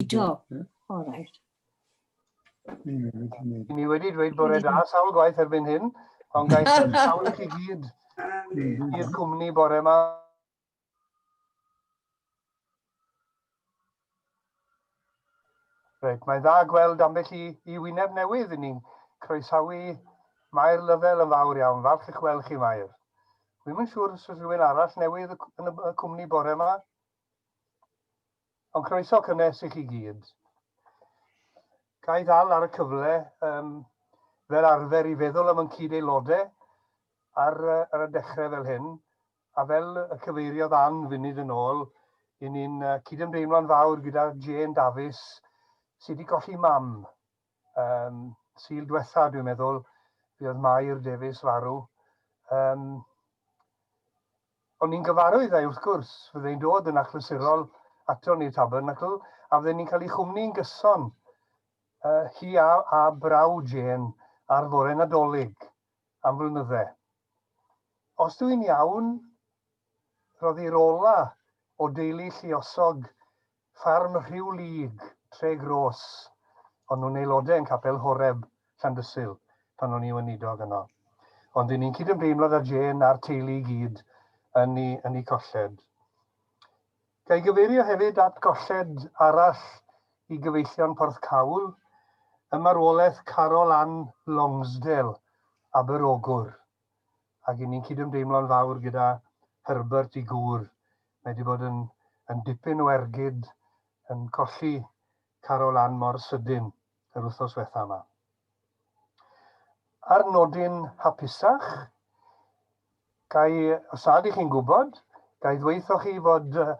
Do, o reit. Mi wedi dweud bore da, sawl gwaith erbyn hyn, ond gael sawl i chi gyd i'r cwmni bore yma. Reit, mae'n dda gweld ambell i, i wyneb newydd i ni'n croesawu Mair Lyfel yn fawr iawn. Falch eich weld chi, Mair. Wy'n yn siŵr sy'n rhywun arall newydd yn y cwmni bore yma. Ond croeso cynnes i chi gyd. Ga i ddal ar y cyfle um, fel arfer i feddwl am yn cyd aelodau ar, ar y dechrau fel hyn, a fel y cyfeiriodd Ann funud yn ôl, i ni'n cydymdeimlo'n fawr gyda Jane Davies sydd wedi colli mam Um, Sil diwetha, dwi'n meddwl, fi oedd Mair Davies farw. Um, o'n i'n gyfarwydd ei wrth gwrs, fyddai'n dod yn achlysurol ato ni tabernacl, a fydden ni'n cael ei chwmni yn gyson. Uh, hi a, a braw Jane ar fore nadolig am flynydde. Os dwi'n iawn, roedd i'r ola o deulu lliosog Ffarm Rhiw Lug, Tregroes. O'n nhw'n aelodau yn Capel Horeb, Llandysul, pan o'n i weinidog yno. Ond ry'n ni'n cydymdeimlo 'da Jane a'r teulu i gyd yn eu, yn eu colled. Ga i gyfeirio hefyd at golled arall i gyfeillion Porthcawl, y marwolaeth Carol Ann Longsdale, Aberogwr, ac 'yn ni'n cydymdeimlo'n fawr gyda Herbert i gŵr mae wedi bod yn yn dipyn o ergyd yn colli Carol Ann mor sydyn yr wythnos fetha yma. Ar nodyn hapusach, gai, os nad ych chi'n gwybod, gai ddweithio chi fod uh,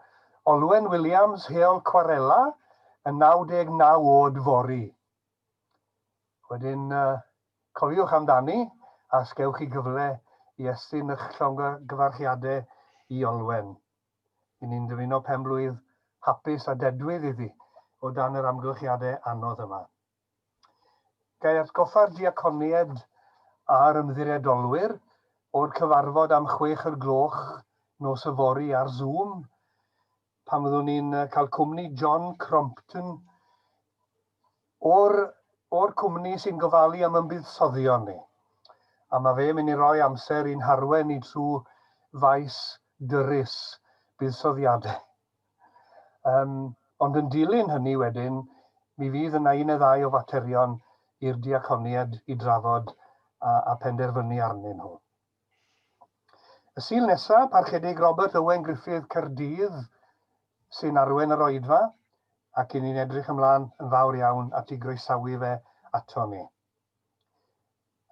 Olwen Williams, heol Cwarela, yn 99 oed fori. Wedyn cofiwch amdani a os gewch chi gyfle i estyn eich llongyfarchiadau i Olwen. Y'n ni'n dymuno pen-blwydd hapus a dedwydd iddi o dan yr amgylchiadau anodd yma. Ga i atgoffa'r diaconiaid a'r ymddiriedolwyr o'r cyfarfod am chwech o'r gloch nos yfory ar Zoom? pan fyddwn ni'n cael cwmni John Crompton o'r, or cwmni sy'n gofalu am ymbuddsoddio'n ni. A mae fe'n mynd i roi amser i'n harwen ni trwy faes dyrus buddsoddiadau. Um, ond yn dilyn hynny wedyn, mi fydd yna un neu ddau o faterion i'r diaconied i drafod a, a penderfynu arnyn nhw. Y Sul nesaf, Parchedig Robert Owen Griffith, Caerdydd, sy'n arwain yr Oedfa, ac i ni'n edrych ymlaen yn fawr iawn at i groesawu fe ato ni.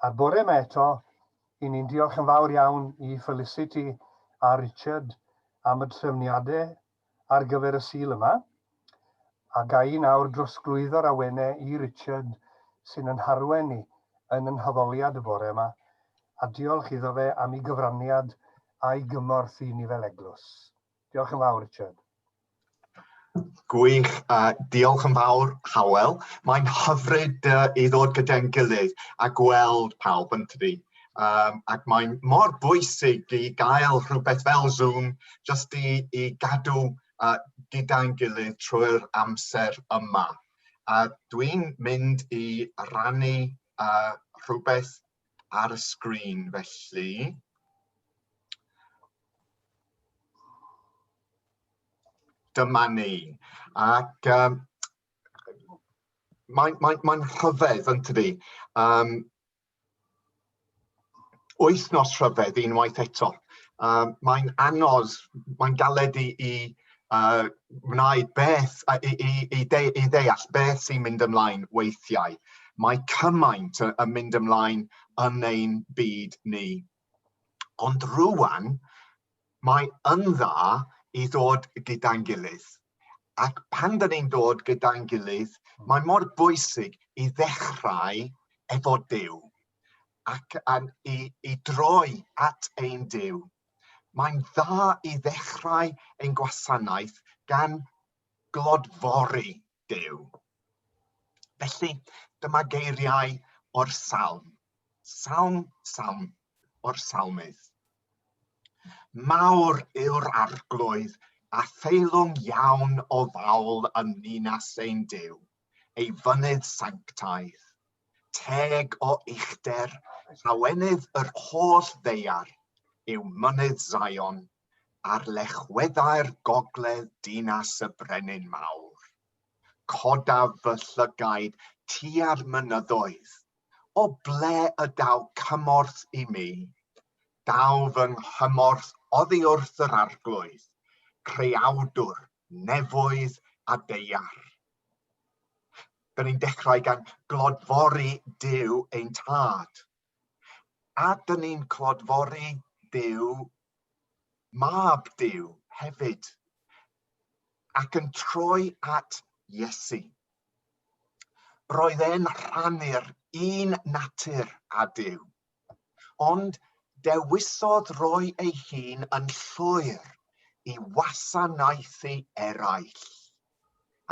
A'r bore yma eto, i ni'n diolch yn fawr iawn i Felicity a Richard am y trefniadau ar gyfer y Sul yma, a ga i nawr drosglwyddo'r awenau i Richard sy'n yn harwain ni yn y naddoliad y bore yma, a diolch iddo fe am ei gyfraniad a'i gymorth i ni fel Eglwys. Diolch yn fawr, Richard. Gwych, a diolch yn fawr, Hywel. Mae'n hyfryd i ddod gyda'n gilydd a gweld pawb, yn tydi? Um, ac mae'n mor bwysig i gael rhywbeth fel Zoom jyst i, i gadw uh, gyda'n gilydd trwy'r amser yma. A dwi'n mynd i rannu uh, rhywbeth ar y sgrin felly. Dyma ni. Ac um, mae'n mae, mae rhyfedd, yn tydi? Um, wythnos rhyfedd unwaith eto. Uh, mae'n anodd, mae'n galed i, i uh, wneud beth, uh, i, i, i, de, i ddeall beth sy'n mynd ymlaen weithiau. Mae cymaint yn mynd ymlaen yn ein byd ni. Ond rwan, Mae yn dda i ddod gyda'n gilydd. Ac pan da ni'n dod gyda'n gilydd, mae mor bwysig i ddechrau efo Duw ac um, i, i droi at ein Duw. Mae'n dda i ddechrau ein gwasanaeth gan glodfori Duw. Felly, dyma geiriau o'r salm. Salm, salm o'r salmydd. Mawr yw'r arglwydd a theilwng iawn o fawl yn ninas ein Duw, ei fynydd sanctaidd. Teg o uchder, llawenydd yr holl ddeiar, yw mynydd Zion, ar lechweddau'r gogledd dinas y Brenin Mawr. Codaf fy llygaid tua'r mynyddoedd, o ble y daw cymorth i mi. Daw fy nghymorth oddi wrth yr arglwydd, creawdwr nefoedd a deiar. Dyn ni'n dechrau gan glodfori Duw ein tad. A dyn ni'n clodfori Duw Mab Duw hefyd, ac yn troi at Iesu. Roedd e'n rhannu'r un natur â Duw, ond dewisodd roi ei hun yn llwyr i wasanaethu eraill,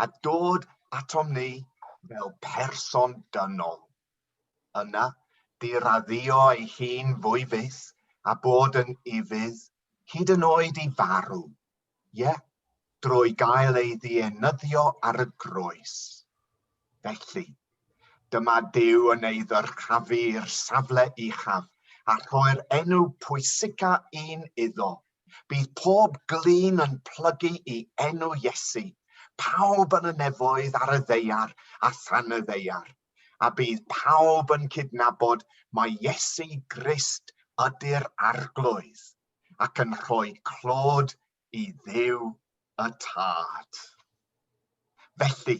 a dod atom ni fel person dynol. Yna, bu raddio ei hun fwy fyth a bod yn ufudd, hyd yn oed i farw, ie, drwy gael ei ddienyddio ar y groes. Felly, dyma Duw yn ei ddyrchafu i'r safle uchaf, a rhoi'r enw pwysica un iddo. Bydd pob glun yn plygu i enw Iesu, pawb yn y nefoedd ar y ddeiar a than y ddeiar. a bydd pawb yn cydnabod mai Iesu Grist ydy'r Arglwydd, ac yn rhoi clod i Dduw y Tad. Felly,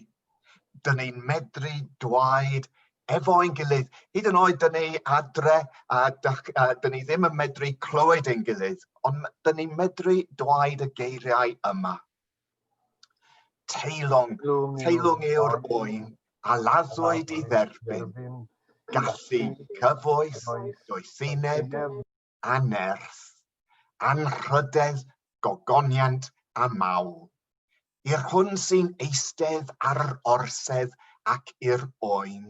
dyn ni'n medru dweud efo'n gilydd, hyd yn oed dyn ni adre a dyn ni ddim yn medru clywed ein gilydd, ond dyn ni'n medru dweud y geiriau yma. Teilwng, teilwng yw'r oen a laddwyd i dderbyn gallu, cyfoes, doethineb, anerth, anrhydedd, gogoniant a mawl. I'r hwn sy'n eistedd ar yr orsedd ac i'r oen,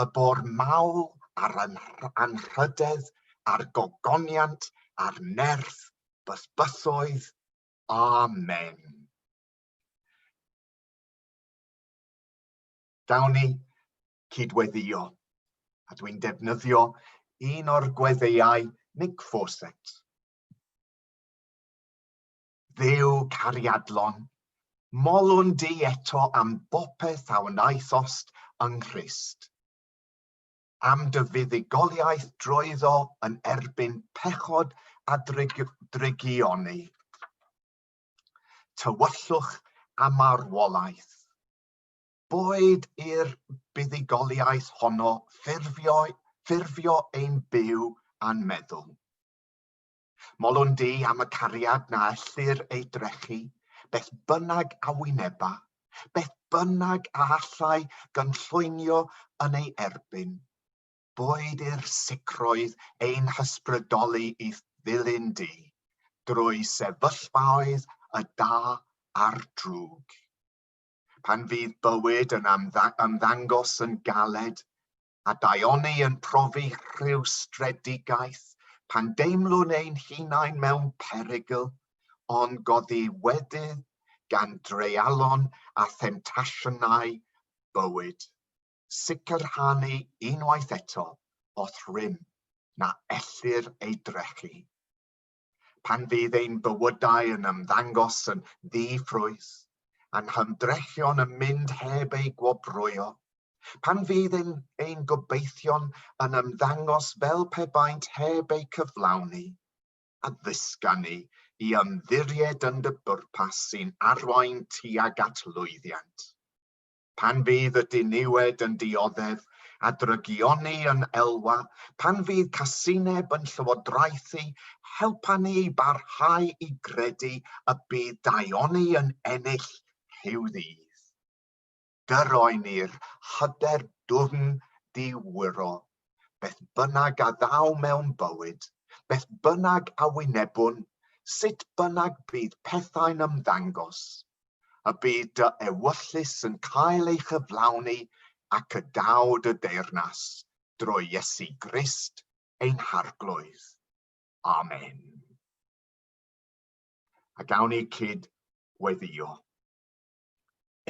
y bor mawl a'r anrhydedd a'r gogoniant a'r nerth, bysbythoedd, Amen. Dawn ni cydweddio, a dwi'n defnyddio un o'r gweddeiau Nick Fawcett. Ddew cariadlon, molwn di eto am bopeth a wnaethost yng Nghrist. am dy fuddugoliaeth drwyddo yn erbyn pechod a drygioni, tywyllwch a marwolaeth. Boed i'r buddugoliaeth honno ffurfio, ffurfio ein byw a'n meddwl. Molwn di am y cariad na ellir ei drechu, beth bynnag a wyneba, beth bynnag a allai gynllwynio yn ei erbyn, boed i'r sicrwydd ein hysbrydoli i ddilyn di, drwy sefyllfaoedd y da a'r drwg. Pan fydd bywyd yn ymddangos yn galed, a daioni yn profi rhyw stredigaeth pan deimlwn ein hunain mewn perygl, ond goddiwedydd gan dreialon a themtasiynau bywyd, sicrhanu unwaith eto o'th rym na ellir ei drechu. pan fydd ein bywydau yn ymddangos yn ddi-ffrwyth, a'n hymdrechion yn mynd heb eu gwobrwyo, pan fydd ein, ein gobeithion yn ymddangos fel pe baent heb eu cyflawni, a ddysga ni i ymddiried yn dy bwrpas sy'n arwain tuag at lwyddiant. pan fydd y diniwed yn dioddef a drygioni yn elwa, pan fydd casineb yn llywodraethu, helpa ni i barhau i gredu y bydd daioni yn ennill rhyw ddydd. Gyrroi ni'r hyder dwfn diwyro, beth bynnag a ddaw mewn bywyd, beth bynnag a wynebwn, sut bynnag bydd pethau'n ymddangos, y bu dy ewyllys yn cael ei chyflawni ac y daw dy deyrnas drwy Iesu Grist ein Harglwydd. Amen. A gawn ni cyd weddio.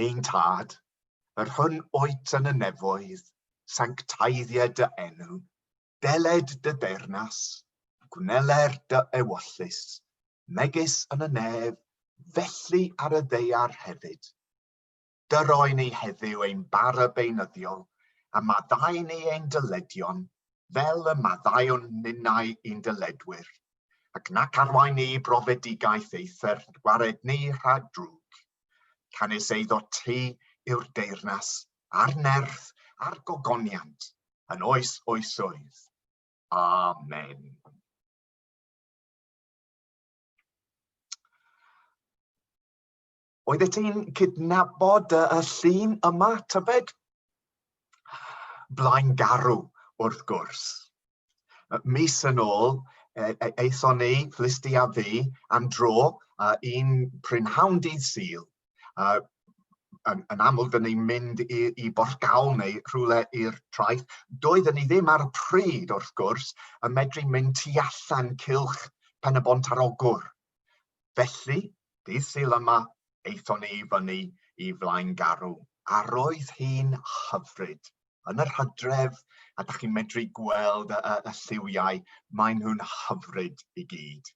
Ein Tad, yr hwn oet yn y nefoedd, sanctaeddia dy enw, Deled dy deyrnas, gwneler dy ewyllys, megis yn y nef, felly ar y ddaear hefyd. Dyroe ni heddiw ein bara beunyddiol, a maddau ni ein dyledion, fel y maddaiwn ninnau i'n dyledwyr, ac nac arwain ni brofedigaeth eithr gwared ni rhag drwg. Canys eiddo ti yw'r deyrnas a'r nerth a'r gogoniant yn oes oesoedd. Amen. Oeddet ti'n cydnabod y llun yma, tybed? Blaen garw, wrth gwrs. Mis yn ôl, e, e, aethon ni, Felicity a fi, am dro uh, i'n prynhawn dydd Sul. Uh, yn, yn amlwg, dyn ni'n mynd i, i Bortgawl neu rhywle i'r traeth. Doedden ni ddim ar y pryd, wrth gwrs, yn medru mynd tu allan cilch pen y bont ar ogwr. Felly, dydd Sul yma, aethon ni i fyny i Flaengarw, a roedd hi'n hyfryd. Yn yr hydref, a da chi'n medru gweld y, y, y lliwiau, maen nhw'n hyfryd i gyd.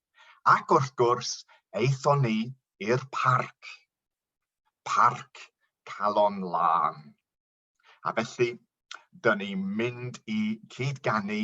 Ac wrth gwrs, aethon ni i'r parc, parc Calon Lân. A felly, dyn ni'n mynd i cyd-ganu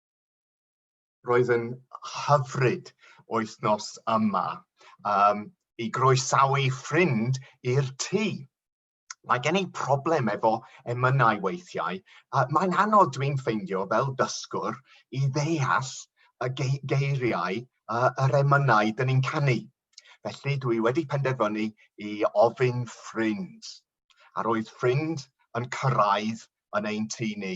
Roedd yn hyfryd wythnos yma um, i groesawu ffrind i'r tŷ. Mae gen i problem efo emynau weithiau. Uh, Mae'n anodd dwi'n ffeindio fel dysgwr i ddeall y ge geiriau uh, yr emynau dyn ni'n canu. Felly dwi wedi penderfynu i ofyn ffrind. A roedd ffrind yn cyrraedd yn ein tŷ ni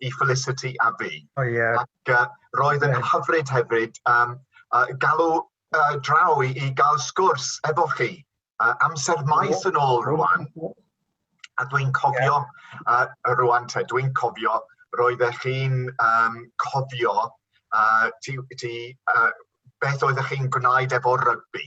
i Felicity a fi. O ie. Ac uh, roedd yn hyfryd hefyd um, uh, galw uh, draw i, i gael sgwrs efo chi. Uh, amser maes yn ôl rwan. A dwi'n cofio, yeah. uh, rwan te, dwi'n cofio, roedd eich chi'n um, cofio uh, ti, ti, uh, beth oeddech chi'n gwneud efo rygbi.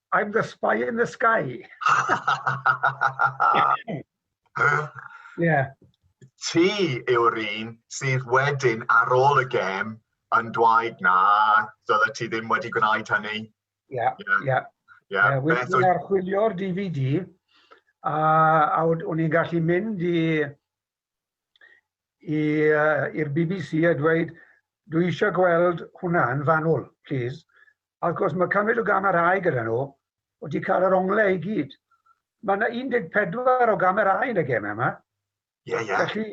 I'm the spy in the sky. yeah. Ti yw'r un sydd wedyn ar ôl y gem yn dweud na, dyle ti ddim wedi gwneud hynny. Ie, yeah, ie. Yeah. Yeah. Yeah. Yeah. Wedyn ni'n archwilio'r DVD a, a o'n i'n gallu mynd i i'r bbc a dweud dwi eisiau gweld hwnna'n fanwl, plîs. A wrth gwrs mae cymryd o gamerâu gyda nhw, o ti cael yr onglau i gyd. Mae yna 14 o gamerâu yn y gemau yma. Ie, ie. Felly,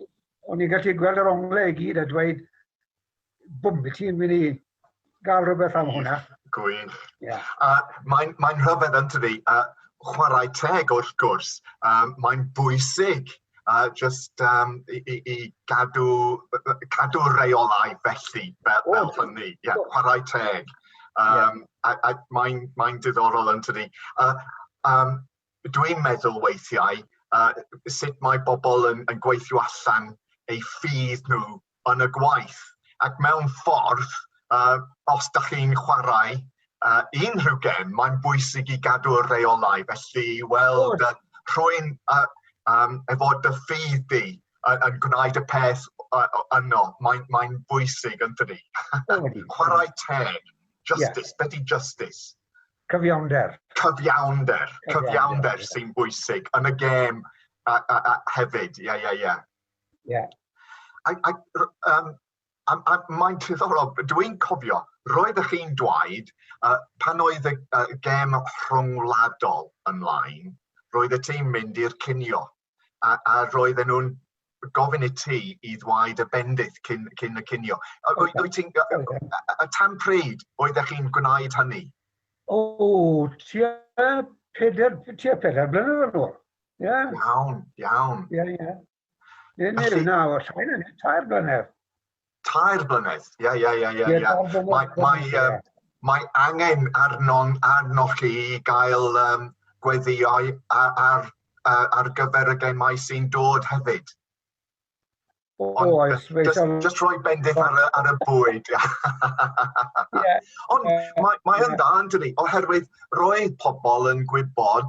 o'n i'n gallu gweld yr onglau i gyd a dweud, bwm i ti'n mynd i gael rhywbeth am hwnna. Gwych. Yeah. A mae'n mae rhyfedd yn tydi, uh, chwarae teg wrth gwrs, um, mae'n bwysig uh, just um, i, i, i gadw, cadw reolau felly, fel, oh, fel hynny, yeah, oh. chwarae teg. Um, yeah. A, a mae'n mae diddorol yn tydi. Uh, um, dwi'n meddwl weithiau yy sut mae bobl yn yn gweithio allan eu ffydd nhw yn y gwaith ac mewn ffordd yy os dach chi'n chwarae yy unrhyw gem mae'n bwysig i gadw'r reolau felly i weld yy rhwy'n yy yym efo dy ffydd di yn yn gwneud y peth yy o- yno mae'n mae'n bwysig yndydi? Chwarae teg. Justice. Be' 'di justice? Cyfiawnder. Cyfiawnder. Cyfiawnder sy'n bwysig yn y gêm a, a, a hefyd. Ie, ie, ie. Ie. Um, a, a mae'n triddorol, dwi'n cofio, roedd ych chi'n dweud, uh, pan oedd y uh, gêm rhyngwladol ymlaen, roedd y tîm mynd i'r cinio. a, a roedden nhw'n gofyn i ti i ddwaid y bendith cyn, cyn y cinio. Wyt okay. ti'n... Okay. A tan pryd oeddech chi'n gwneud hynny? O, tua peder, tua peder blynedd yn ôl. Yeah. Iawn, iawn. Ie, yeah, ie. Yeah. Neu nawr, sain yn tair blynedd. Tair blynedd, ie, ie, ie, ie. Ie, tair blynedd. Mae, mae, ie. um, mae angen arnon, arnoch chi i gael um, gweddiau ar, ar, ar, ar gyfer y gemau sy'n dod hefyd. O, Ond, oes, fe just, siarad... just rhoi bendith ar, y- ar y bwyd. yeah. Ond uh, mae, mae yeah. yn dda, Anthony, oherwydd roedd pobl yn gwybod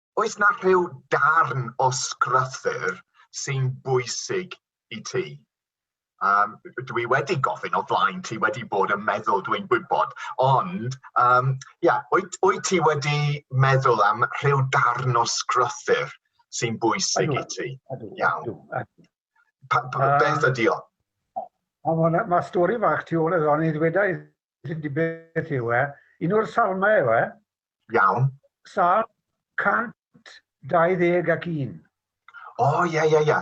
Oes 'na rhyw darn o sgruthyr sy'n bwysig i ti? Um, dwi wedi gofyn o flaen ti wedi bod yn meddwl dwi'n gwybod, ond um, yeah, wyt, wyt ti wedi meddwl am rhyw darn o sgruthyr sy'n bwysig i ti? Iawn. Pa, pa, beth ydi o? Mae stori fach tu ôl iddo, ond i ddweud Ydy beth yw e? Un o'r salmau yw e? Iawn. Sal 120 ac un. O, oh, ia, ia, ia.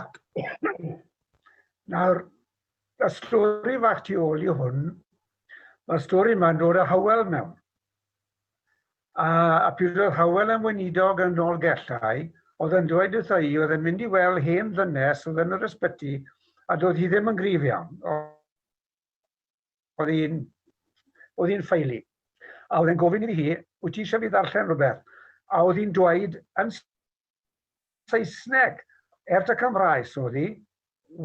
Nawr, y stori fach tu ôl i hwn, mae'r stori yma'n dod â hawel mewn. A, a pryd oedd hawel yn weinidog yn ôl gellau, oedd yn dweud wrtho i, oedd yn mynd i weld hen ddynes oedd yn yr ysbyty, a doedd hi ddim yn grif iawn. oedd hi'n oedd hi'n ffeili. A oedd e'n gofyn iddi hi, wyt ti eisiau fi ddarllen rhywbeth? A oedd hi'n dweud yn Saesneg, er ta Cymraes oedd hi,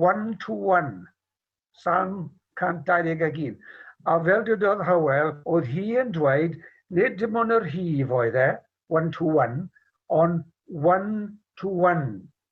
one to one, Salm 121. A fel dydodd Hywel, oedd hi yn dweud, nid dim ond yr hif oedd e, one to one, ond one to one,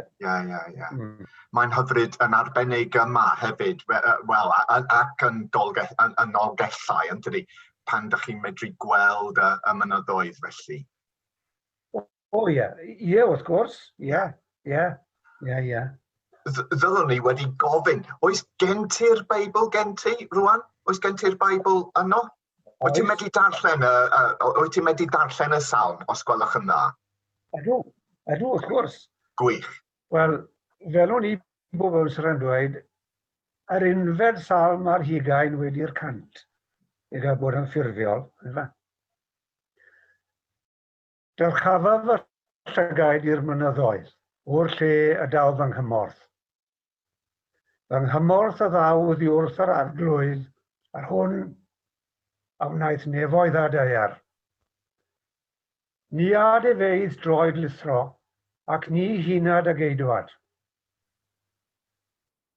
Ie, ie, ie. Mm. Mae'n hyfryd yn arbennig yma hefyd, wel, ac yn, dolge, yn, yn Nolgellau, yn tydi, pan da chi'n medru gweld y, y mynyddoedd felly. O, o ie, ie, wrth gwrs, ie, ie, ie, ie. Ddylwn ni wedi gofyn, oes gen ti'r Beibl gen ti, rwan? Oes gen ti'r Beibl yno? Wyt ti'n medru darllen y, uh, wyt ti'n medru darllen y salm, os gwelwch yn dda? Ydw, ydw, wrth gwrs. Gwych. Wel, fel o'n i bobl sy'n rhan dweud, yr unfed salm ar hugain wedi'r cant, i gael bod yn ffurfiol. Dyrchafaf fy llygaid i'r mynyddoedd, o'r lle y daw fy nghymorth. Fy nghymorth a ddaw oddi wrth yr arglwydd, yr hwn a wnaeth nefoedd a daear. Ni ad efeidd droed lithro, ac ni hunad a geidwad.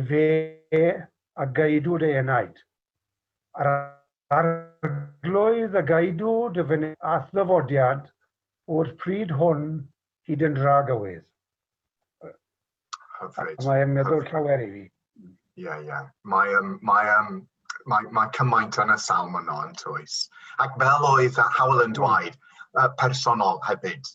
Efe a gaedu dy enaid. A'r Arglwydd a gaedu dy fyned. A'th ddyfodiad o'r pryd hwn hyd yn dra gywydd. Hyfryd. Ac mae'n meddwl llawer i fi. Ie, ie. Mae yym mae yym mae mae cymaint yn y salm yno yntoes? Ac fel oedd Hywel yn dweud, yy personol hefyd.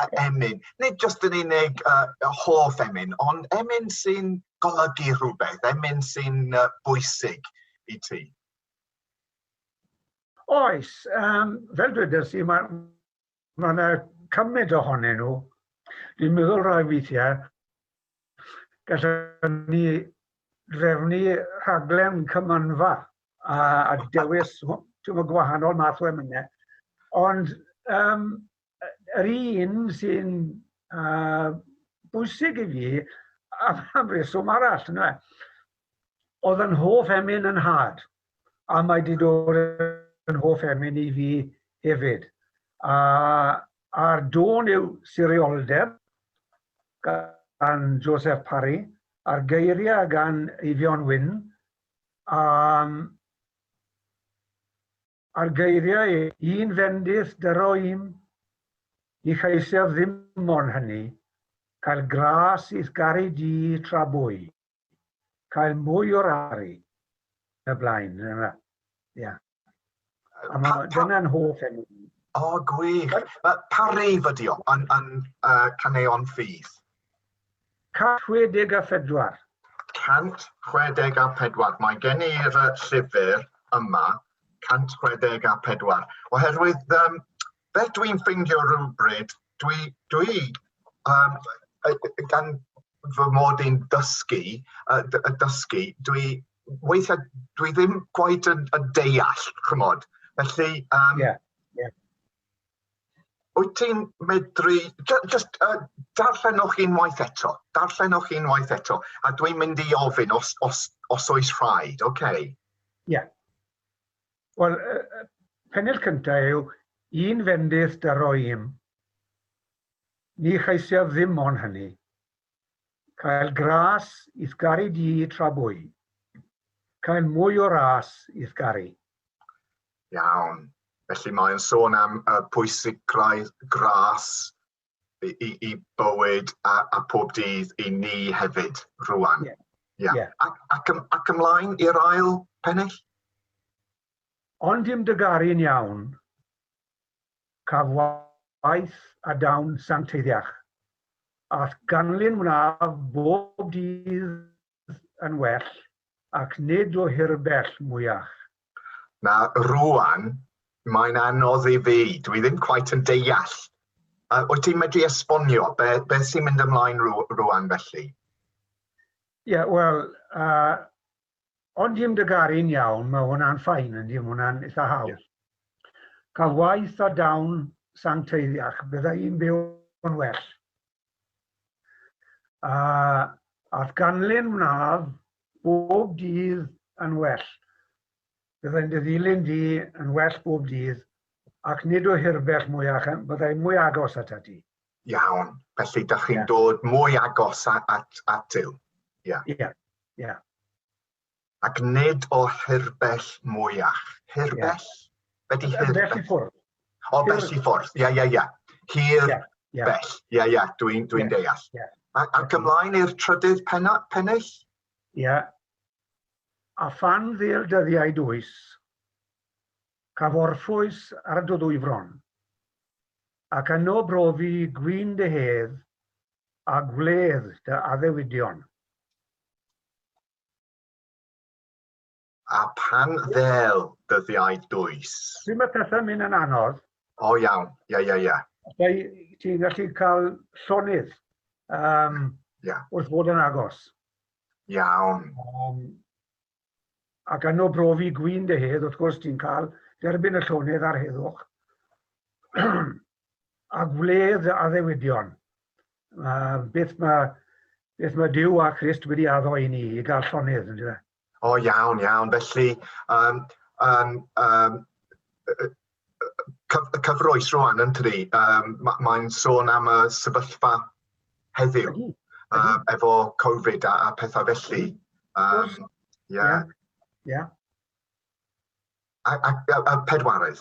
a emyn, nid jyst yn unig uh, hoff emyn, ond emyn sy'n golygu rhywbeth, emyn sy'n uh, bwysig i ti? Oes, um, fel dwedais i, mae ma yna cymaint ohonyn nhw. Dwi'n meddwl rhai weithiau, gallwn ni drefnu rhaglen cymanfa a, a dewis gwahanol math o emynau. Ond um, yr un sy'n uh, bwysig i fi am, am reswm arall. Yna. Oedd yn hoff emyn yn had, a mae wedi dod yn hoff emyn i fi hefyd. A, a'r dôn yw sirioldeb gan Joseph Parry, a'r geiriau gan Eifion Wyn, um, Ar geiriau un fendith dy roim i cheisiaf ddim mon hynny, cael gras i'th garu di tra bwy, cael mwy o'r aru, y blaen. Ia. A ma, dyna'n hoff enw. O, gwych. Pa reif ydi o? Yn, yn uh, caneuon ffydd? 164. 164, Mae gen i'r llyfr yma, 164, oherwydd um, beth dwi'n ffeindio rhywbryd, dwi, dwi um, gan fy mod i'n dysgu, uh, dysgu, dwi weithiau dwi ddim gwaith yn, yn deall, chymod. Felly, um, yeah, yeah. Wyt ti'n medru... Just uh, darllenwch unwaith eto. Darllenwch unwaith eto. A dwi'n mynd i ofyn os, os, os oes rhaid, oce? Okay. Ie. Yeah. Wel, uh, pennill cyntaf yw, un fendith da roim. Ni chaesiaf ddim o'n hynny. Cael gras i'th garu di tra bwy. Cael mwy o ras i'th garu. Iawn. Felly mae o'n sôn am y pwysigrwydd gras i, i, i bywyd a, a pob dydd i ni hefyd rwan. Yeah. Yeah. yeah. Ac, ac, ym, ac ymlaen i'r ail pennill? Ond dim dy garu'n iawn, Caf waith a dawn sancteiddiach, a'th ganlyn wnaf bob dydd yn well, ac nid o hirbell mwyach. Na, rŵan mae'n anodd i fi, dwi ddim cweit yn deall. Uh, wyt ti'n medru esbonio be, beth sy'n mynd ymlaen rŵan felly? Ie, yeah, wel, uh, Ond dim dy garu'n iawn, mae hwnna'n fine yndy, mae hwnna'n eitha hawdd. Cael waith a dawn sancteiddiach, bydda i'n byw yn well. A ath ganlyn mnaf bob dydd yn well. Byddai'n dy ddilyn di yn well bob dydd, ac nid o hirbell mwyach, byddai'n mwy agos at ati. Iawn. Felly, da chi'n yeah. dod mwy agos at, at, at Dyw. Ie. Yeah. Yeah. Yeah. Ac nid o hirbell mwyach. Hirbell? Yeah. Be di hirbell? Bell i ffwrdd. O, bell i ffwrdd. Ie, ie, ie. Hir yeah. Yeah. bell. Ie, yeah, ie. Yeah. Dwi'n dwi yeah. deall. Yeah. A, a gymlaen i'r trydydd pennill? Ie. Yeah. A phan ddil dyddiau dwys, caf orffwys ar dy ddwy fron, ac yno brofi gwin dy hedd a gwledd dy addewidion. A phan ddêl dyddiau dwys. Sut mae pethau'n mynd yn anodd? O iawn, ie, ie, ie. Felly, ti'n gallu cael llonydd um, yeah. wrth fod yn agos. Iawn. Um, ac yno brofi gwin dy hedd, wrth gwrs ti'n cael derbyn y llonydd a'r heddwch, a gwledd dy addewidion. Uh, beth mae beth mae Dyw a Christ wedi addo i ni, i gael llonydd, ynddo fe? O, iawn, iawn. Felly, um, um, um, y cyfroes rwan yn tydi? Um, Mae'n ma sôn am y sefyllfa heddiw mm. uh, efo Covid a, a pethau felly. Um, yeah. Yeah. A, a, a, a pedwarydd.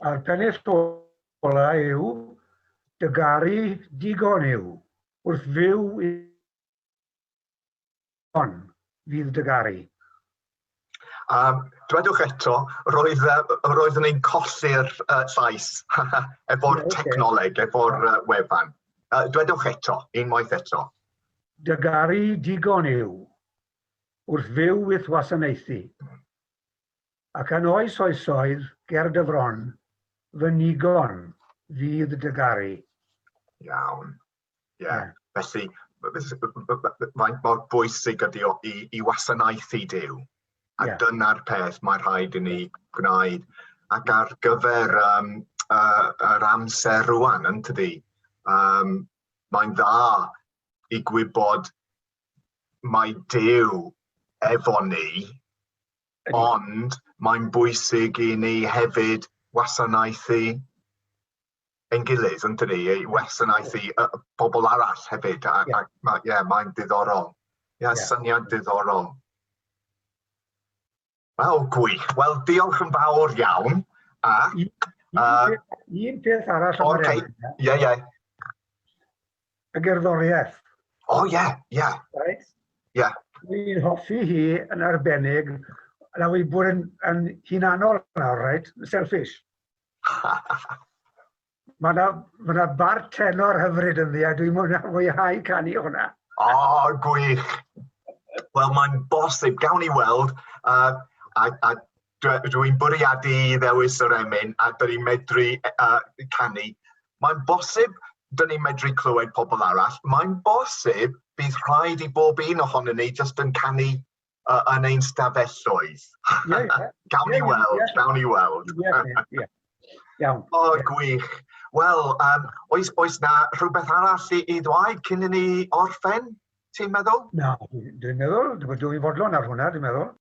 A'r pennill golau yw dy garu digon yw wrth fyw i hon fydd dy garu. A dwedwch eto, roedd, uh, roeddwn i'n colli'r uh, llais efo'r okay. technoleg, efo'r uh, wefan. Uh, dwedwch eto, unwaith eto. Dy garu digon yw wrth fyw with wasanaethu. Ac yn oes oesoedd ger dy fron, fy nigon fydd dy garu. Iawn. Ie. Felly, faint mor bwysig ydy o i, i wasanaethu Dyw. A yeah. dyna'r peth mae rhaid i ni gwneud. Ac ar gyfer um, uh, yr amser rwan, yn tydi, um, mae'n dda i gwybod mae Dyw efo ni Ond mae'n bwysig i ni hefyd wasanaethu ein gilydd, yn dydi, i wasanaethu y bobl arall hefyd. A, yeah. a ma, yeah, mae'n diddorol. Ie, yeah, yeah. syniad diddorol. Wel, gwych. Wel, diolch yn fawr iawn. A, un, uh, un peth arall o'r okay. Ie, ie. y gerddoriaeth. O oh, ie, yeah, ie. Yeah. Right? Ie. Yeah. Dwi'n hoffi hi yn arbennig, na wedi bod yn, yn hunanol nawr, right? Selfish. Mae yna ma, na, bar tenor hyfryd yn ddi, a dwi'n mwynhau canu hwnna. O, oh, gwych! Wel, mae'n bosib, gawn ni weld, uh, a, a Dw i'n bwriadu i ddewis yr emyn a dyn ni'n medru uh, canu. Mae'n bosib dyn ni'n medru clywed pobl arall. Mae'n bosib bydd rhaid i bob un ohonyn ni jyst yn canu uh, yn ein stafelloedd. Yeah, yeah. gawn ni weld, yeah. gawn ni weld. Yeah, yeah, yeah. Iawn. O, oh, gwych. Wel, um, oes, oes na rhywbeth arall i, i ddweud cyn i ni orffen, ti'n meddwl? Na, dwi'n meddwl, dwi'n fodlon ar hwnna, dwi'n meddwl.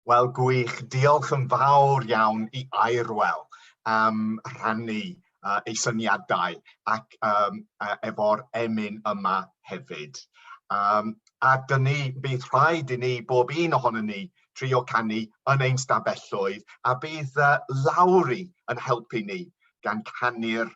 Wel, gwych. Diolch yn fawr iawn i Airwell am rhannu uh, ei syniadau ac um, uh, efo'r emyn yma hefyd. Um, a dyn ni, bydd rhaid i ni, bob un ohonyn ni, trio canu yn ein stafelloedd a bydd uh, Lowry yn helpu ni gan canu'r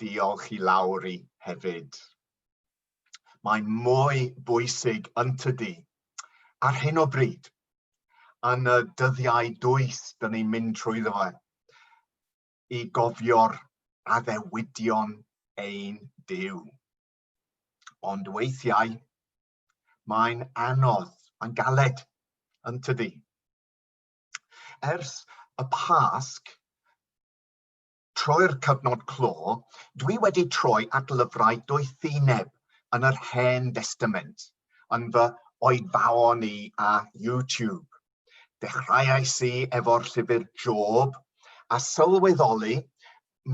Diolch i Lowri hefyd. Mae'n mwy bwysig yntydi? Ar hyn o bryd, yn y dyddiau dwys dyn ni'n mynd trwy fe, i gofio'r addewidion ein Dyw. Ond weithiau, mae'n anodd, mae'n galed, yntydi? Ers y Pasg, Trwy'r cyfnod clo, dwi wedi troi at lyfrau doethineb yn yr Hen Destament yn fy oedfaon i a YouTube. Dechreuais i efo'r llyfr Job a sylweddoli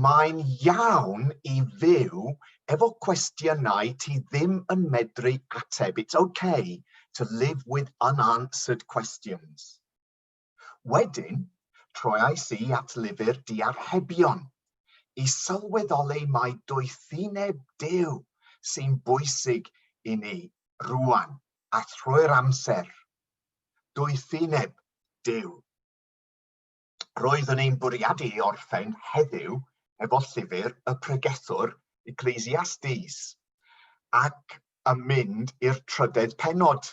mae'n iawn i fyw efo cwestiynau ti ddim yn medru ateb, it's ok to live with unanswered questions. Wedyn, troiais i at lyfr Diarhebion i sylweddoli mai doethineb Duw sy'n bwysig i ni rwan a thrwy'r amser. Doethineb Duw. Roeddwn i'n bwriadu i orffen heddiw efo llyfr y pregethwr Ecclesiastes ac yn mynd i'r trydedd pennod.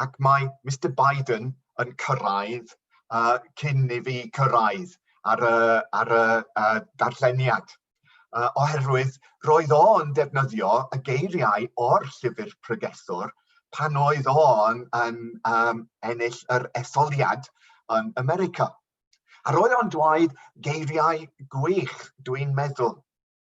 ac mae Mister Biden yn cyrraedd uh, cyn i fi cyrraedd ar y, ar y uh, darlleniad. Uh, oherwydd roedd o'n defnyddio y geiriau o'r llyfr pregethwr pan oedd o'n yn um, ennill yr etholiad yn America. Ar oedd o'n dweud geiriau gwych, dwi'n meddwl.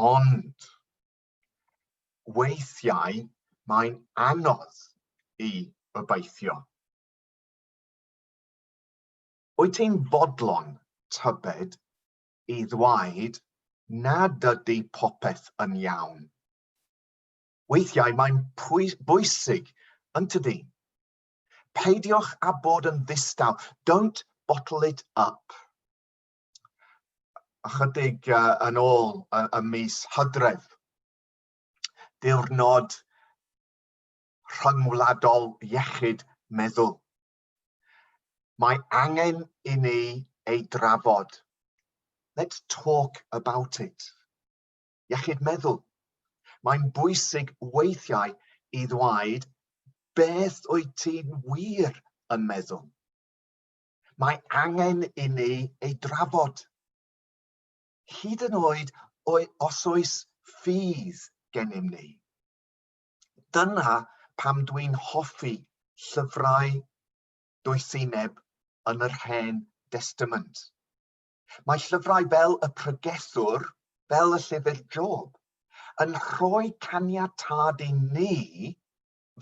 Ond weithiau mae'n anodd i obeithio. Wyt ti'n fodlon tybed i ddweud nad ydy popeth yn iawn? Weithiau mae'n bwysig, yn tydi? Peidiwch â bod yn ddistaw. Don't bottle it up. ychydig yn ôl y mis hydref. Diwrnod rhyngwladol iechyd meddwl. Mae angen i ni ei drafod. Let's talk about it. Iechyd meddwl. Mae'n bwysig weithiau i ddweud beth wyt ti'n wir yn meddwl. Mae angen i ni ei drafod. Hyd yn oed os oes ffydd gennym ni. Dyna pam dwi'n hoffi llyfrau doethineb yn yr Hen Destament. Mae llyfrau fel y Pregethwr, fel y llyfr Job, yn rhoi caniatâd i ni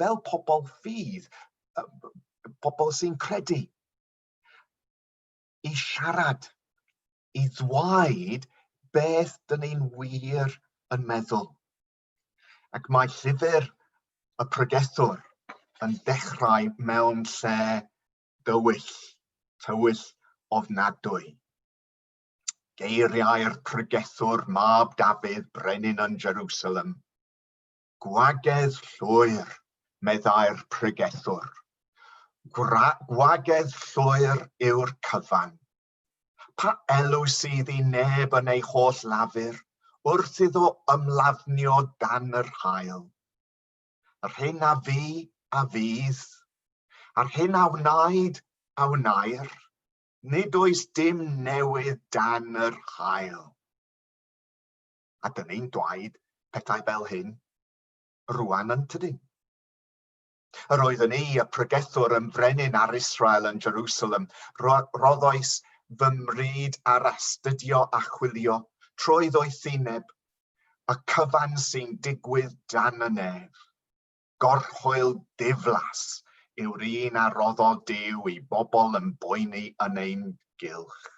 fel pobl ffydd, pobl sy'n credu, i siarad, i ddweud beth dyn ni'n wir yn meddwl. Ac mae llyfr y pregethwr yn dechrau mewn lle dywyll, tywyll ofnadwy. Geiriau'r pregethwr mab Dafydd, brenin yn Jerusalem. Gwagedd llwyr, meddai'r pregethwr. Gwagedd llwyr yw'r cyfan. Pa elw sydd i neb yn ei holl lafur wrth iddo ymlafnio dan yr hael? Yr hyn a fu, a fydd, a'r hyn a wnaed, a wnair, nid oes dim newydd dan yr hael. a dyn ni'n dwaed pethau fel hyn rwan yntydyn? Yr oeddwn i, y pregethwr yn frenin ar Israel yn Jerusalem, roddoes fy mryd ar astudio a chwilio trwy ddoethineb y cyfan sy'n digwydd dan y nef. Gorchwyl diflas yw'r un a roddo Dyw i bobl yn boeni yn ein gylch.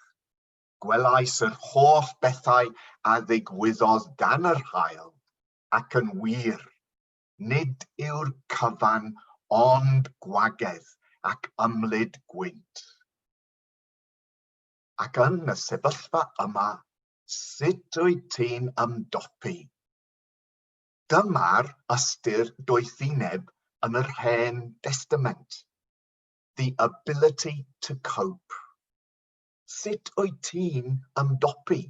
Gwelais yr holl bethau a ddigwyddodd dan yr haul, ac yn wir, nid yw'r cyfan ond gwagedd ac ymlid gwynt. Ac yn y sefyllfa yma, sut wyt ti'n ymdopi? Dyma'r ystyr doethineb yn yr Hen Destament, the ability to cope. Sut wyt ti'n ymdopi?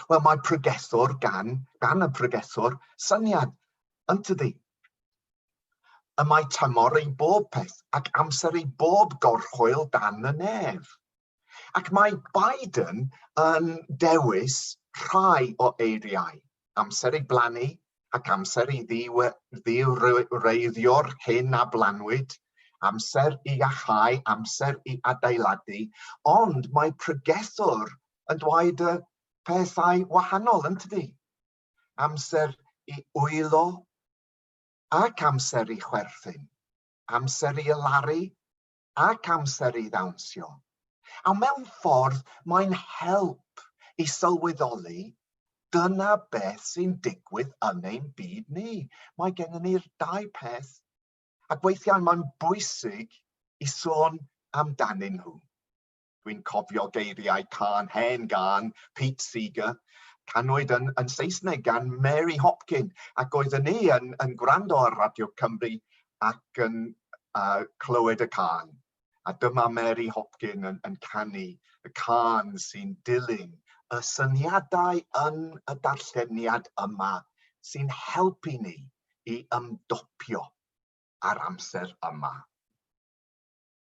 Wel, mae pregethwr gan, gan y pregethwr, syniad, yn tydi? Y mae tymor ei bob peth ac amser ei bob gorchwyl dan y nef. Ac mae Biden yn dewis rhai o eiriau, amser ei blannu, ac amser i ddiwreiddio'r hyn a blanwyd, amser i iacháu, amser i adeiladu, ond mae pregethwr yn dweud y pethau wahanol, yn tydi? Amser i wylo ac amser i chwerthin, amser i ylaru ac amser i ddawnsio, a mewn ffordd mae'n help i sylweddoli dyna beth sy'n digwydd yn ein byd ni. Mae gennym ni'r dau peth ac weithiau mae'n bwysig i sôn amdanyn nhw. Dwi'n cofio geiriau cân hen gân Pete Seeger, canwyd yn, yn Saesneg gan Mary Hopkin, ac oedden ni yn, yn gwrando ar Radio Cymru ac yn uh, clywed y cân. A dyma Mary Hopkin yn, yn canu y cân sy'n dilyn y syniadau yn y darlleniad yma sy'n helpu ni i ymdopio ar amser yma.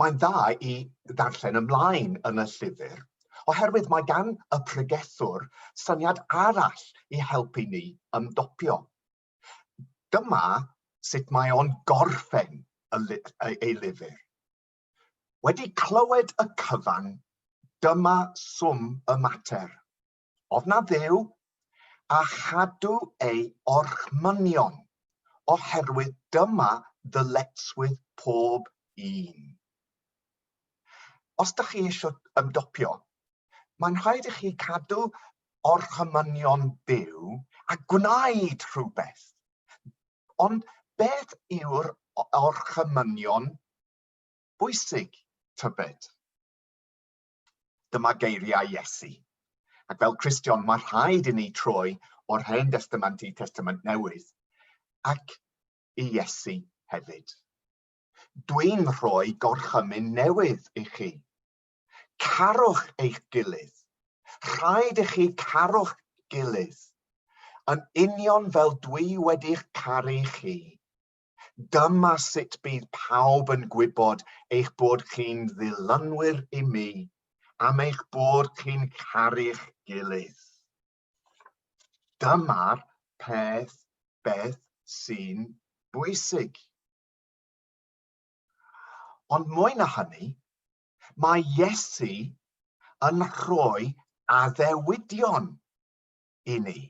Mae'n dda i ddarllen ymlaen yn y llyfr oherwydd mae gan y pregethwr syniad arall i helpu ni ymdopiol. Dyma sut mae o'n gorffen ei lyfr. Wedi clywed y cyfan, dyma swm y mater. Oedd na Dduw? A chadw ei orchmynion, oherwydd dyma ddyletswydd pob un. Os da chi eisiau ymdopio, mae'n rhaid i chi cadw orchmynion byw a gwneud rhywbeth. Ond beth yw'r orchymynion bwysig, tybed? Dyma geiriau Iesu. Ac fel Cristion, mae rhaid i ni troi o'r Hen Testament i Testament Newydd, ac i Iesu hefyd. Dwi'n rhoi gorchymyn newydd i chi. Carwch eich gilydd. Rhaid i chi carwch gilydd. Yn union fel dwi wedi'ch caru chi, Dyma sut bydd pawb yn gwybod eich bod chi'n ddylanwyr i mi am eich bod chi'n caru'ch gilydd. Dyma'r peth beth sy'n bwysig. Ond mwy na hynny, mae Iesu yn rhoi addewidion i ni.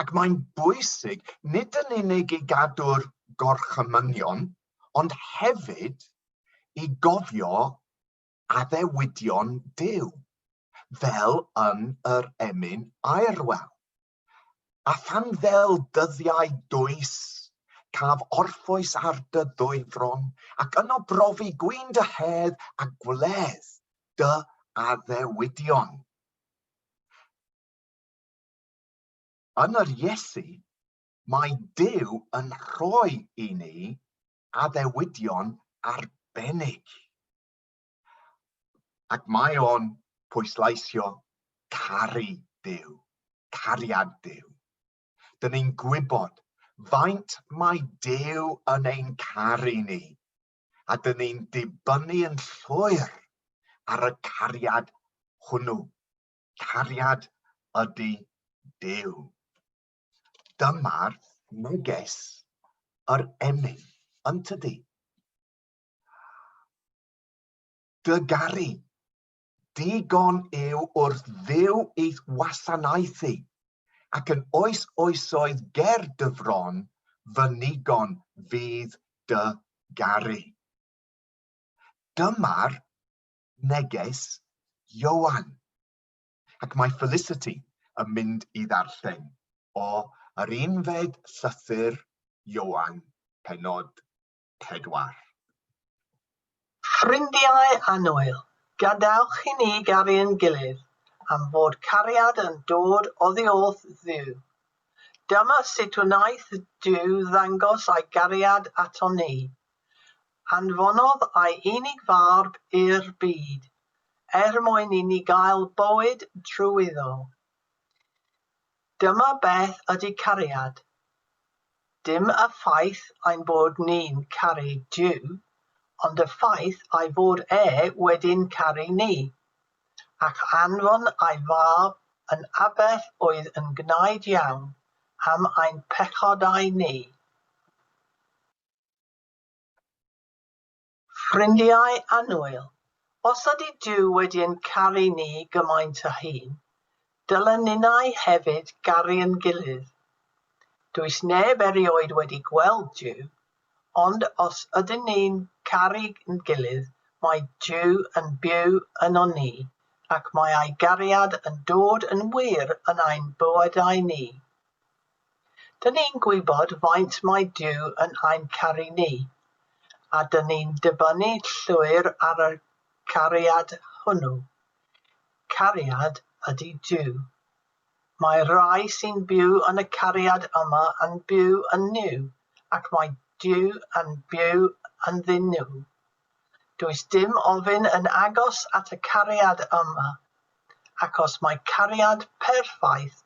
Ac mae'n bwysig nid yn unig i gadw'r gorchymynion, ond hefyd i gofio addewidion Duw, fel yn yr emyn aerwel. A phan fel dyddiau dwys, caf orffwys ar dy ddwyfron, ac yno brofi gwyn dy hedd a gwledd dy addewidion. Yn yr Iesu, mae Duw yn rhoi i ni addewidion arbennig. Ac mae o'n pwysleisio caru Duw, cariad Duw. Dyn ni'n gwybod faint mae Duw yn ein caru ni, a dyn ni'n dibynnu yn llwyr ar y cariad hwnnw. cariad ydy Duw. Dyma'r neges yr emyn, yn tydi? Dy garu, digon yw wrth ddew eith wasanaethu, ac yn oes oesoedd ger dy fron, fy nigon fydd dy garu. Dyma'r neges Ioan. Ac mae Felicity yn mynd i ddarllen o yr unfed llythyr Ioan, penod pedwar. Ffrindiau annwyl, gadewch i ni garu'n gilydd, am fod cariad yn dod oddiwrth Dduw. Dyma sut wnaeth Duw ddangos ei gariad atom ni. Anfonodd ei unig Fab i'r byd er mwyn i ni gael bywyd drwyddo. Dyma beth ydy cariad. Dim y ffaith ein bod ni'n caru Duw, ond y ffaith ei fod e wedi'n caru ni, ac anfon ei Fab yn aberth oedd yn gwnaed iawn am ein pechodau ni. Ffrindiau annwyl, os ydy Duw wedi ein caru ni gymaint a hyn, dylen ninnau hefyd garu yn gilydd. Does neb erioed wedi gweld Duw, ond os ydyn ni'n caru yn gilydd mae Duw yn byw ynon ni ac mae ei gariad yn dod yn wir yn ein bywydau ni. Dŷn ni'n gwybod faint mae Duw yn ein caru ni, a dŷn ni'n dibynnu llwyr ar y cariad hwnnw. Cariad ydy Duw. Mae'r rhai sy'n byw yn y cariad yma yn byw yn Nuw, ac mae Duw yn byw ynddyn nhw. Does dim ofyn yn agos at y cariad yma, ac os mae cariad perffaith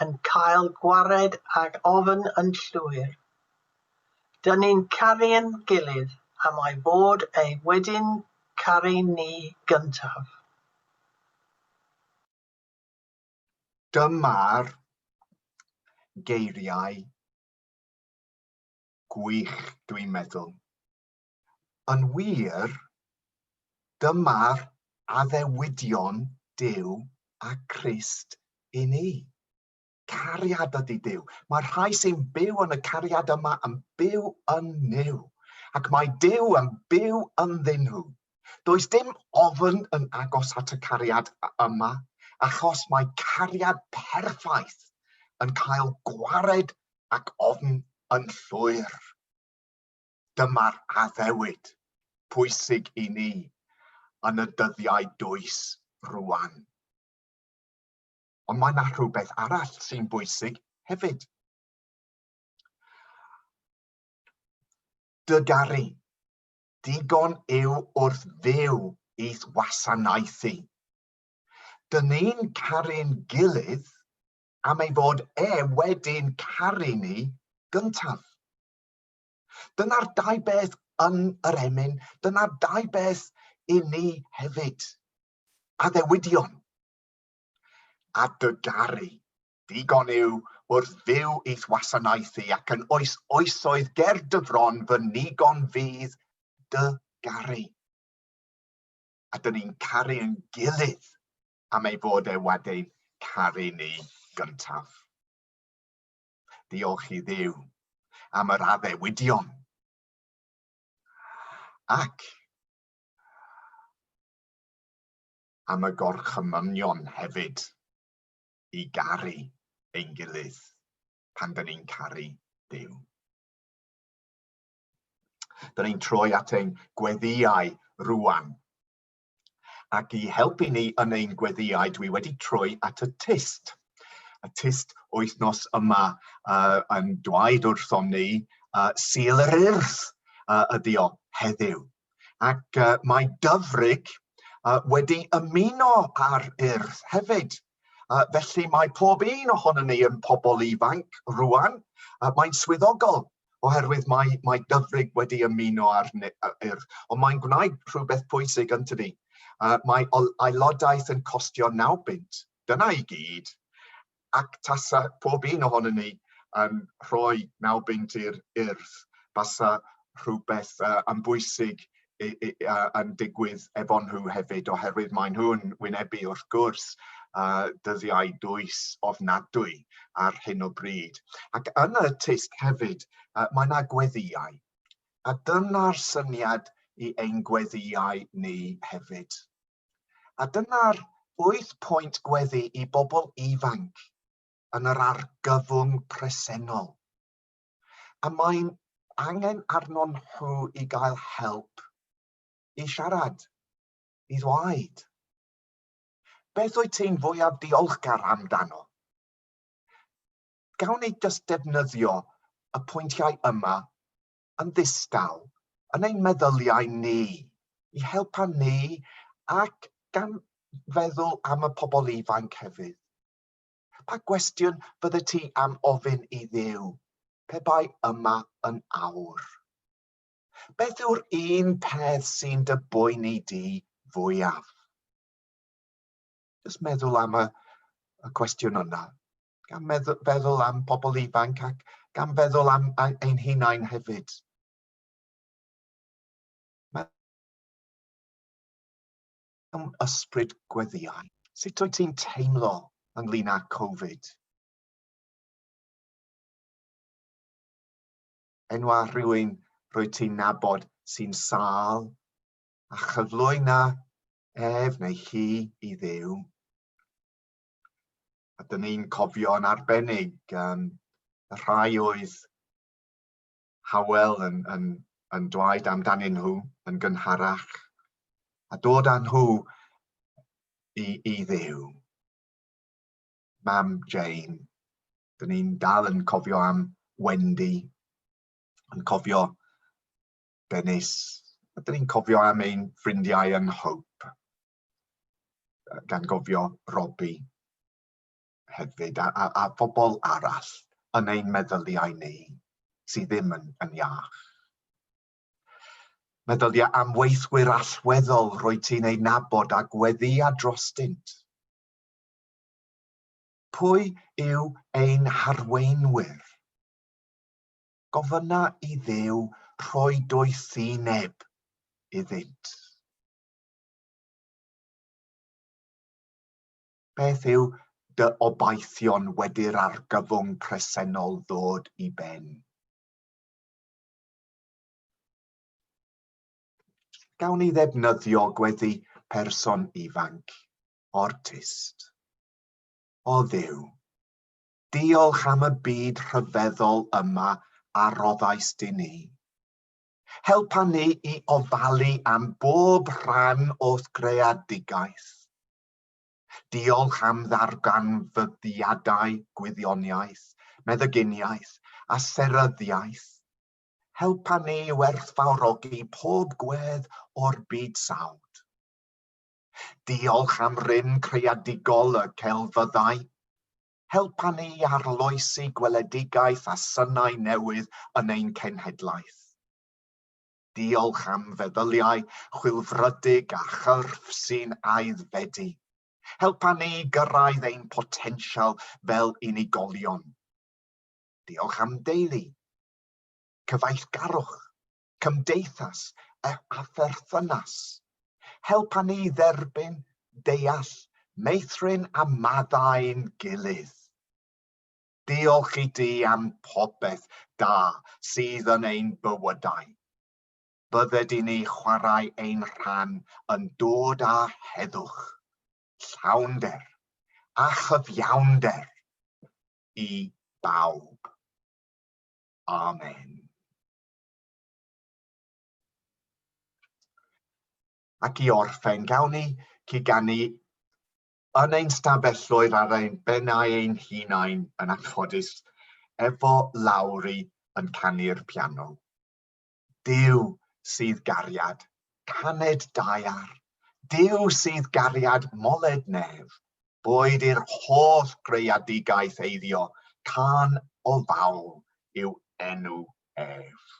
yn cael gwared ag ofn yn llwyr, dŷn ni'n caru'n gilydd am ei fod e wedi'n caru ni gyntaf. Dyma'r geiriau gwych dwi'n meddwl. Yn wir, dyma'r addewidion Duw a Christ i ni. Cariad ydy Duw. Mae'r rhai sy'n byw yn y cariad yma yn byw yn Nuw, ac mae Duw yn byw ynddyn nhw. Does dim ofn yn agos at y cariad yma, achos mae cariad perffaith yn cael gwared ac ofn yn llwyr. Dyma'r addewid pwysig i ni yn y dyddiau dwys rwan. Ond mae yna rhywbeth arall sy'n bwysig hefyd. Dygaru. Digon yw wrth fyw i'th wasanaethu. Dyn ni'n caru'n gilydd am ei fod e wedi'n caru ni gyntaf. Dyna'r dau beth yn yr emyn, dyna'r dau beth i ni hefyd. Addewidion a dy garu. Digon yw wrth fyw i'th wasanaethu ac yn oes oesoedd ger dy fron fy nigon fydd dy garu. A dyn ni'n caru yn gilydd am ei fod e wedi'n caru ni gyntaf. Diolch i ddew am yr addewidion. Ac am y gorchymynion hefyd i garu ein gilydd pan dyn ni'n caru Dyw. Dyn ni'n troi at ein gweddiau rwan Ac i helpu ni yn ein gweddiau, dwi wedi troi at y tyst. Y tyst wythnos yma uh, yn dweud wrthom ni uh, syl yr urth uh, ydi o heddiw. Ac uh, mae dyfrig uh, wedi ymuno ar urth hefyd. Uh, felly mae pob un ohono ni yn pobl ifanc rwan, uh, mae'n swyddogol oherwydd mae, mae Dyfrig wedi ymuno â'r Urdd, ond mae'n gwneud rhywbeth pwysig yn tydi. Uh, mae aelodaeth yn costio 9 bunt, dyna i gyd, ac tasa pob un ohonyn ni yn rhoi 9 bunt i'r Urdd, basa rhywbeth uh, yn bwysig yn digwydd efo nhw hefyd oherwydd maen nhw'n wynebu wrth gwrs uh, dyddiau dwys ofnadwy ar hyn o bryd. Ac yn y tysg hefyd, uh, mae yna gweddiau. A dyna'r syniad i ein gweddiau ni hefyd. A dyna'r 8 pwynt gweddi i bobl ifanc yn yr argyfwng presennol. a mae'n angen arnon nhw i gael help i siarad, i ddweud. Beth wyt ti'n fwyaf diolchgar amdano? Gawn ni jyst defnyddio y pwyntiau yma yn ddistaw yn ein meddyliau ni i helpa ni ac gan feddwl am y pobl ifanc hefyd. Pa gwestiwn byddet ti am ofyn i Dduw pe bai yma yn awr? Beth yw'r un peth sy'n dy boeni di fwyaf? Just meddwl am y, y cwestiwn yna. Gan feddwl am pobl ifanc ac gan feddwl am ein hunain hefyd. Mewn ysbryd gweddïau, sut wyt ti'n teimlo ynglyn â Covid? Enwa rhywun rwyt ti'n nabod sy'n sâl a chyflwyna ef neu hi i ddew. A dyn ni'n cofio'n arbennig um, y rhai oedd Hywel yn, yn, yn dweud amdanyn nhw yn gynharach, a dod â nhw i, i ddew. Mam Jane, dyn ni'n dal yn cofio am Wendy, yn cofio Dennis, a dyn ni'n cofio am ein ffrindiau yn Hope, gan gofio Robbie. hefyd a, a, a phobl arall yn ein meddyliau ni sydd ddim yn, yn iach. Meddylia am weithwyr allweddol roedd ti'n ei nabod a gweddia drostynt. Pwy yw ein harweinwyr? Gofyna i ddew rhoi doethineb iddynt. Beth yw dy obaithion wedi'r argyfwng presennol ddod i ben? Gawn ni ddefnyddio gweddi person ifanc, ortist. O ddiw, diolch am y byd rhyfeddol yma a roddais di ni. Helpa ni i ofalu am bob rhan o'th greadigaeth Diolch am ddarganfyddiadau gwyddoniaeth, meddyginiaeth a seryddiaeth. Helpa ni i werthfawrogi pob gwedd o'r byd sawd. Diolch am rym creadigol y celfyddau. Helpa ni i arloesi gweledigaeth a synau newydd yn ein cenhedlaeth. Diolch am feddyliau chwilfrydig a chyrff sy'n aeddfedu. Helpa ni gyrraedd ein potensial fel unigolion. Diolch am deulu, cyfeillgarwch, cymdeithas a pherthynas. Helpa ni dderbyn, deall, meithrin a maddau'n gilydd. Diolch i ti am popeth da sydd yn ein bywydau. Bydde di ni chwarae ein rhan yn dod â heddwch, llawnder a chyfiawnder i bawb. Amen. Ac i orffen, gawn ni ciganu Yn ein stafelloedd ar ein bennau ein hunain yn anffodus efo Lowri yn canu'r piano. Dyw sydd gariad, caned daear, dyw sydd gariad moled nef, boed i'r holl greadigaeth eiddio, cân o fawl yw enw ef.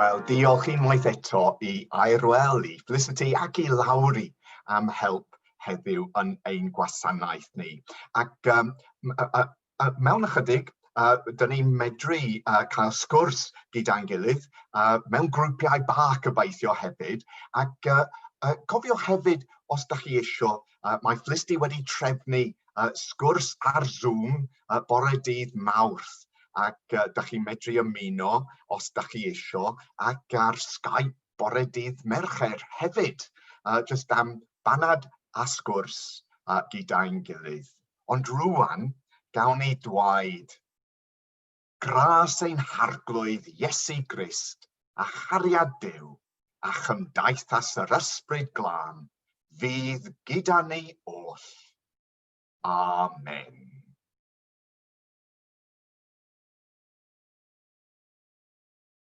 Wel, diolch unwaith eto i Airwell, i Felicity ac i Lowry am help heddiw yn ein gwasanaeth ni. Ac um, A mewn ychydig, a dyn ni'n medru a cael sgwrs gyda'n gilydd, a mewn grwpiau bach gobeithio hefyd, ac a, a cofiwch hefyd, os da chi eisiau, a, mae Flisty wedi trefnu a, sgwrs ar Zoom a, bore dydd mawrth, ac a, da chi'n medru ymuno, os da chi eisiau, ac ar Skype bore dydd Mercher hefyd, a, jyst am banad a sgwrs a, gyda'n gilydd. ond rŵan gawn ni dwaed gras ein Harglwydd Iesu Grist a chariad Duw a chymdeithas yr Ysbryd Glân fydd gyda ni oll. Amen.